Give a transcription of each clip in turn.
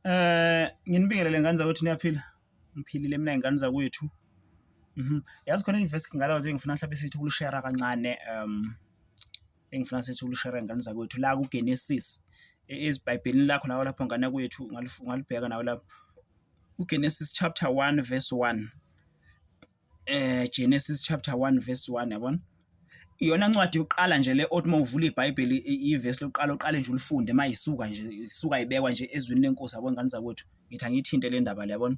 Eh, nginibingelele ngane zakwethu niyaphila? Ngiphilile mina ngane zakwethu. Mhm. Yazi khona i-verse ngalawa nje engifuna mhlawumbe sithi ukulushera kancane um engifuna sithi ukulushera ngane zakwethu la kuGenesis e-, eziBhayibhelini lakho nawe lapho ngane kwethu ungalibheka nawe lapho. UGenesis chapter 1 verse 1. eh Genesis chapter 1 verse 1 yabona iyona ncwadi yokuqala nje le othi mawuvula iBhayibheli ivesi lokuqala uqale nje ulifunde mayisuka nje isuka ibekwa nje ezwini lenkosi yabona ngani zakwethu ngithi angiyithinte le ndaba le yabona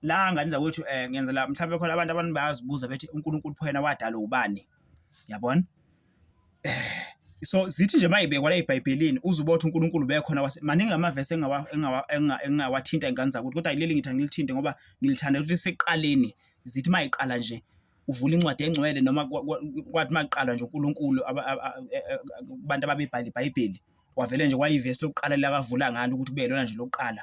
la ngani zakwethu eh ngenzela mhlawumbe khona abantu abantu bayazibuza bethi uNkulunkulu phela wadala ubani yabona So zithi nje mayibekwa la eBhayibhelini uzoba uthi uNkulunkulu bekhona wase maningi amavesi engingawathinta ingane zakuthi kodwa yileli ngithi angilithinte ngoba ngilithanda ukuthi seqaleni zithi mayiqala nje uvula incwadi engcwele noma kwathi makuqalwa nje uNkulunkulu abantu ababebhala iBhayibheli wavele nje kwayivesi lokuqala lakavula ngalo ukuthi kube yilona nje lokuqala.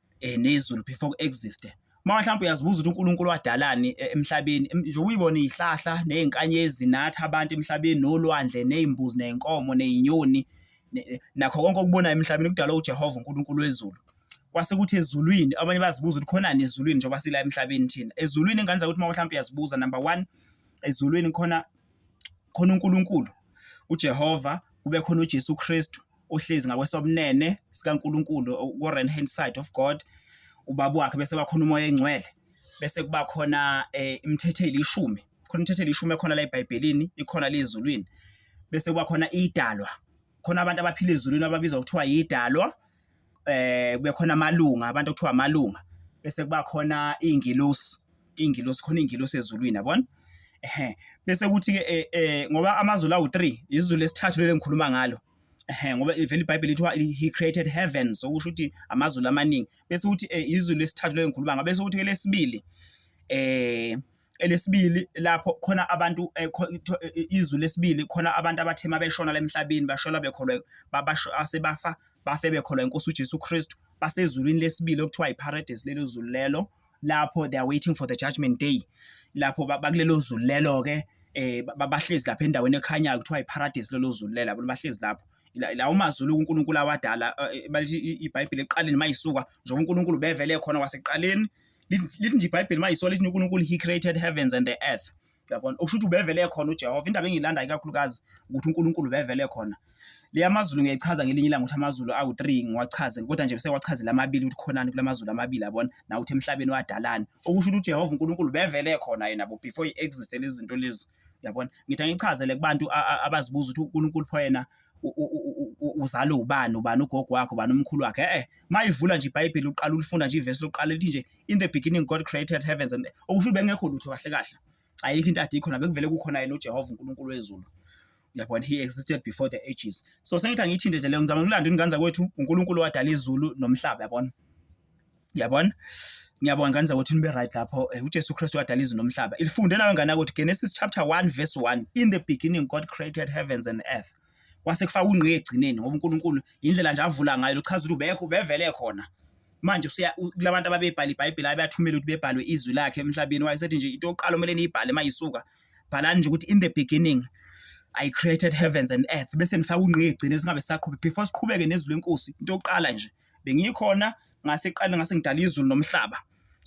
eh, nezulu before ku-existe uma mhlawumbe uyazibuza ukuthi uNkulunkulu wadalani e, emhlabeni nje uyibona izihlahla nezinkanyezi nathi abantu emhlabeni nolwandle nezimbuzi nezinkomo nezinyoni nakho konke okubonayo emhlabeni kudala uJehova uNkulunkulu wezulu kwase kuthi ezulwini abanye bazibuza ukuthi khonani ezulwini njengoba sila emhlabeni thina ezulwini ingane zakuthi uma mhlawumbe uyazibuza number 1 ezulwini khona khona uNkulunkulu uJehova kube khona uJesu Kristu uhlezi ngakwesobunene sikaNkulunkulu ku-right hand side of God ubaba wakhe bese bakhona umoya engcwele bese kuba khona eh, imithetho elishumi khona imithetho elishumi ekhona la eBhayibhelini ikhona lezulwini bese kuba khona idalwa khona abantu abaphila ezulwini ababizwa kuthiwa yidalwa eh kube khona amalunga abantu okuthiwa amalunga bese kuba khona ingelosi ingilosi khona ingilosi ezulwini yabona ehe bese kuthi ke eh, eh, ngoba amazulu awu 3 izulu lesithathu lele ngikhuluma ngalo ehe ngoba ivela iBhayibheli lithiwa he created heaven so kusho ukuthi amazulu amaningi bese kuthi eh, izulu lesithathu lele ngikhuluma ngalo bese kuthi ke lesibili eh elesibili lapho khona abantu eh, izulu lesibili khona abantu abathema beshona lemhlabeni bashola bekholwe babasho asebafa bafe bekholwa inkosi uJesu Kristu basezulwini lesibili okuthiwa iParadise lelo zulu lelo lapho they are waiting for the judgment day lapho bakulelo zulu lelo ke eh bahlezi lapha endaweni ekhanyayo kuthiwa iparadise lelo zulu lela bahlezi lapho la umaZulu uNkulunkulu awadala eh, eh, balithi iBhayibheli eqaleni mayisuka njengoba uNkulunkulu bevele khona waseqaleni lithi nje iBhayibheli mayisuka lithi uNkulunkulu he created heavens and the earth uyabona okusho ukuthi ubevele khona uJehova indaba engiyilandayo kakhulukazi ukuthi uNkulunkulu ubevele khona le amazulu ngiyayichaza ngelinye ilanga ukuthi amazulu awu-3 ngiwachaze kodwa nje sewachazile amabili ukuthi khonani kula mazulu amabili abona nawuthi emhlabeni wadalani okusho ukuthi ujehova unkulunkulu bevele khona yena bo before i-existe lezi zinto lezi uyabona ngithi angichazele kubantu abazibuza ukuthi unkulunkulu pho yena uzalwe ubani ubani ugogo wakhe ubani umkhulu wakhe eh, eh mayivula nje iBhayibheli uqala ulifunda nje ivesi lokuqala lithi nje in the beginning God created heavens and okusho bengekho lutho kahle kahle ayikho into ade ikhona bekuvele kukhona yena uJehova uNkulunkulu wezulu yabona he existed before the ages so sengithi angiyithinte nje leyo ngizama ukulanda ingane zakwethu uNkulunkulu wadala izulu nomhlaba yabona yabona ngiyabonga ngane zakwethu nibe right lapho eh, uJesu Kristu wadala izulu nomhlaba ilifunde nayo ngane ukuthi Genesis chapter 1 verse 1 in the beginning God created heavens and earth kwase kufaka ungqi egcineni ngoba uNkulunkulu indlela nje avula ngayo lochaza ukuthi ubekho bevele khona manje usiya kulabantu ababebhala iBhayibheli abathumela ukuthi bebhalwe izwi lakhe emhlabeni wayesethi nje into yokuqala omele niyibhale mayisuka bhalani nje ukuthi in the beginning I created heavens and earth bese nifaka ungqi egcine singabe saqhubeka before siqhubeke nezwi lenkosi into yokuqala nje bengikhona ngase qala ngase ngidala izulu nomhlaba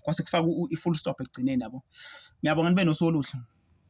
kwase kufaka i-full stop ekugcineni yabo. Ngiyabonga nibe nosoluhle.